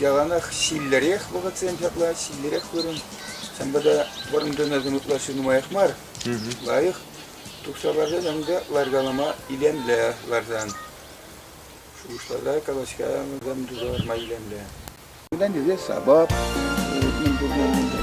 яланах ҫиллӗрех вӑхӑтсем ҫапла, ҫиллӗрех вырӑн. Ҫавӑнпа та вӑрӑм тунӑсем ытлашши нумаях мар, лайӑх тухса ларсан ӗнтӗ ларкалама илемлӗ ларсан. Шухӑшласа, калаҫка вӗсем туса ларма илемлӗ. Унтан тесе сапап мӗн пурне мӗнле.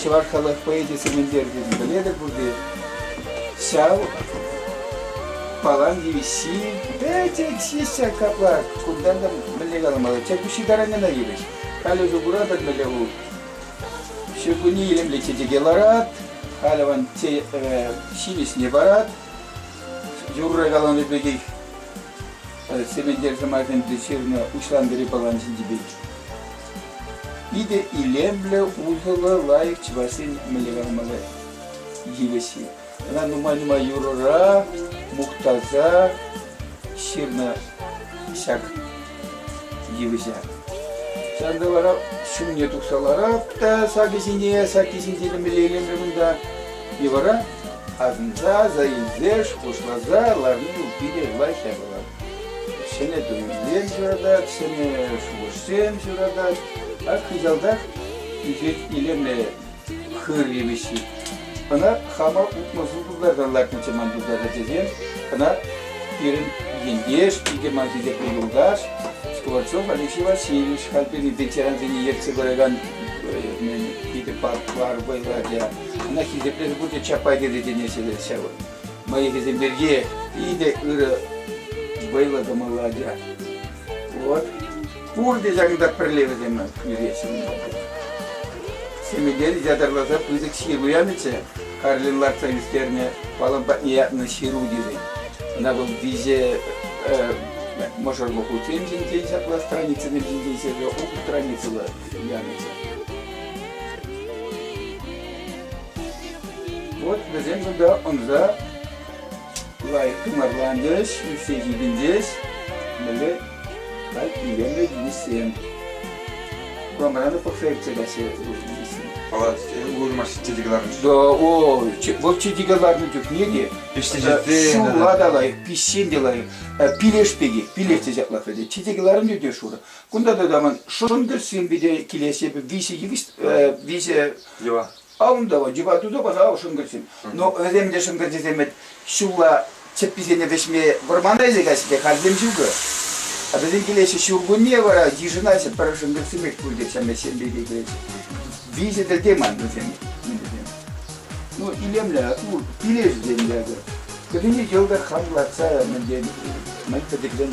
чӑваш халӑх поэчӗсем илтернӗ пӗлетӗр пурте. Ҫав палан йывӑҫҫи пӗчӗк ҫиҫҫӗ капла. Кунтан та мӗнле каламалла? Чӗркуҫҫи тараннана йывӑҫ. Халӗ усӑ куратӑр мӗнле ху? Ҫуркунне илемлӗ чечеке ларат, халӗ ван ҫимӗҫне парат. Юрра каланӑ пекех Сементер сӑмах ӗнтӗ ҫырнӑ «Уҫлан вӗри пӑлан ҫинчи пек». Питӗ илемлӗ, усӑллӑ, лайӑх чӑвашсен мӗнле йывӑҫҫи. Ӑна нумай-нумай юрӑра мухтаса ҫырнӑ ҫак йывӑҫа. Ҫавӑнта вара ҫумне тухса ларап та сакӗсене, саккисенче мӗнле илемлӗ кунта. И вара Асӑнса аса илсеш пуҫласа ларни питӗ лайӑх япалат. Ҫӗнӗ туйӑмсем ҫуратать, ҫӗнӗ шухӑшсем ҫуратать. Ак хыҫалтах ӳсет илемлӗ хыр йывӑҫҫи. Ӑна хама утмӑлшин тултарсан лартнӑччӗ ман тултарса тесен, ӑна пирӗн ентеш, икӗ ман хисеплӗ юлташ, Скворцов Алексей Васильевич халь пирӗн ветерансене ертсе пыракан питӗ парк вӑйлӑ ача. Ӑна хисеплес пурте Чапай тесе чӗнеҫҫӗ ҫавӑ. Мӑйӑхӗсем пирки питӗ ырӑ вӑйлӑ кӑмӑллӑ ача. Вот. Пурте ҫакӑнта пӗрле вӗсем ӳреҫҫӗ. Семейден ятарласа пысӑк ҫыру янӑччӗ. Карлин лартса ӳстернӗ палан патне ятнӑ ҫыру тесен. Ӑна вӑл виҫе мӑшӑрлӑ хутсем ҫинчен ҫапла страницӑсем ҫинчен ҫырса ултӑ страницӑллӑ Вот вӗсем сюда ӑнса лайӑх тымарлантӗҫ, ӳссе ҫитӗнчӗҫ. Böyle так илемлӗ килӗшсем. Кламрана пӑхса иртсе каҫҫӗ Палат улмашсен чечеке ларнӑ. Да, ой, вот чечеке ларнӑ чухне те шула та лайӑх, пиҫсен те лайӑх. Пилеш пеки, пилеш те ҫаплах вӗтет. Чечеке ларнӑ те шура. Кунта тытаман шӑндӑрсем пите килес эпӗ виҫӗ йывӑҫ, виҫӗ йӑва. Алтава, йӑва туда, пожалуйста, шӑнкӑрчсем. Но вӗсем те шӑнкӑрчсем вӗт ҫулла чӗпписене вӗҫме вӑрмана илсе каҫҫӗ те хальсем ҫукӑ. А вӗсем килеҫҫӗ ҫуркунне вара йышӑнаҫҫӗ пӗр шӑнкӑрчсем пек пуль те ҫеммешсем пек килеҫҫӗ. Виҫӗ те ман вӗсем. Ну, илемлӗ, ну, килеҫҫӗ те эсӗ. Вӗсене йӑлтӑр ханлатса мӗн тетӗр, мӗн пӗтӗкрен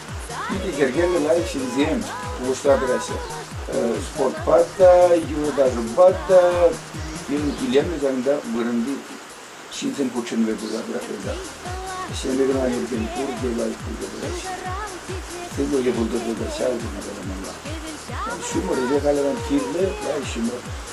Питӗ йӗркеллӗ лайӑх ҫынсем пулӑшса тӑраҫҫӗ. Спортпа та, юрӑ-ташӑпа та пирӗн илемлӗ залында вырӑнти ҫынсем хутшӑнӑвӗ пулса тӑраҫҫӗ. Ӗҫлеме кӑна иртен пурте лайӑх пулса тӑраҫҫӗ. Сывлӑхӗ пултӑр тата ҫав тери каламалла. Ҫумӑр эсӗ халӗ кирлӗ, лайӑх ҫумӑр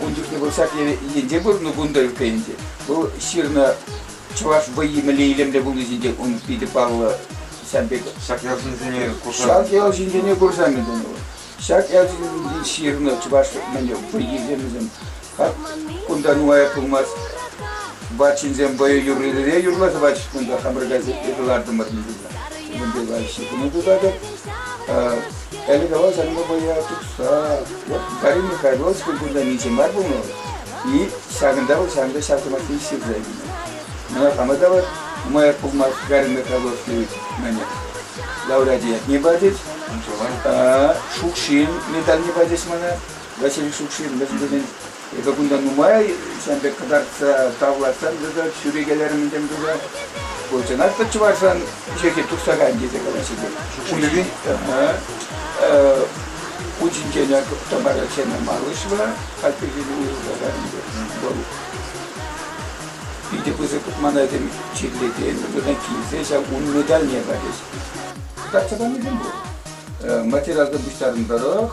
Ун чухне вӑл ҫак енче выртнӑ кунта ытти ӗнтӗ. Вӑл ҫырнӑ чӑваш вӑййи мӗнле илемлӗ пулни ҫинчен ун питӗ паллӑ ҫав пек. Ҫак ял ҫынсене курса. Ҫак ял ҫынсене курса мӗн тунӑ вӑл. Ҫак ял ҫынсенчен ҫырнӑ чӑваш мӗнле вӑййисем вӗсем. Хак кунта нумай пулмасть ват ҫынсем вӑйӑ юррире юрласа пачӗҫ кунта хамӑр газетте кӑлартӑмӑр. Мӗнпе лайӑххи тума пултартӑр. Калекавал санпа вӑя тухса Гарри Михайлович культурта миҫе мар пулмалла. И ҫакӑнта вӑл ҫакӑнта ҫав сӑмахне ҫырса илнӗ. Мана хама та вӑл нумаях пулмасть Гарри Михайлович мӗне лауреачӗ ятне пачӗҫ. Шукшин медальне пачӗҫ мана. Василий Шукшин мӗшӗн тесен Эпӗ кунта нумай ҫын пек кӑтартса тавлатсам тата ҫӳрекелерӗм тем туса. Ку чӑнах та чӑвашран йӗрке тухса кайнӑ тесе калаҫҫӗ те. Ҫулӗвин учӗнчен Тамара Ченамалышева хальхинче уйрӑлса кайнӑ вӑл питӗ пысӑк манайсем чирлекен, вырӑна килсе ҫав ун медальне пачӗҫ. Кӑтартса панисем пур. Материалта пуҫтарӑн тӑрӑх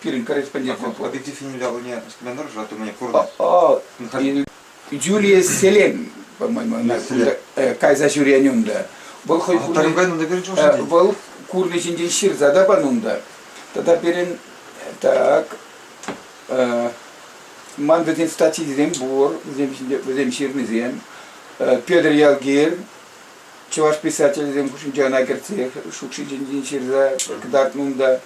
Пирӗн корреспондентсем Победитель ялне смену тӑрӑшатӑн курнӑ. Джулия Селен, по-моему, она кайса ҫӳрен унда. Вӑл хӑй курнӑ Вӑл курнӑ ҫинчен ҫырса тапан унта. Тата пирӗн так ман вӗсен статйисем пур, вӗсем ҫырнисем. Петр Ялгир, чӑваш писателӗсем хушшинче ӑна кӗртсех шукши ҫинчен ҫырса кӑтартнӑ унта.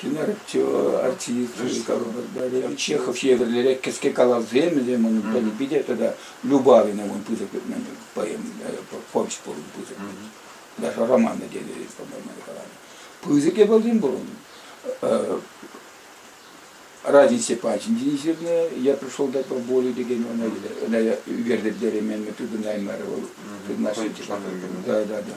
Тӗнер артисчӗ Чехов евӗрлӗрех кӗске калавсем вӗсем унӑн пӗлнӗ. Питӗ тата Любавина ун пысӑк поэм, повесть пурӑн пысӑк. Даже романы тетелес памайнӑ каланӑ. Пысӑкӗ пулсен пурӑн. Разница патӗнче ҫырнӑ. Я пришел дай поболю текен ӑна ӳкертӗм теремен тытӑнаймарӗ вӑл. Да, да, да.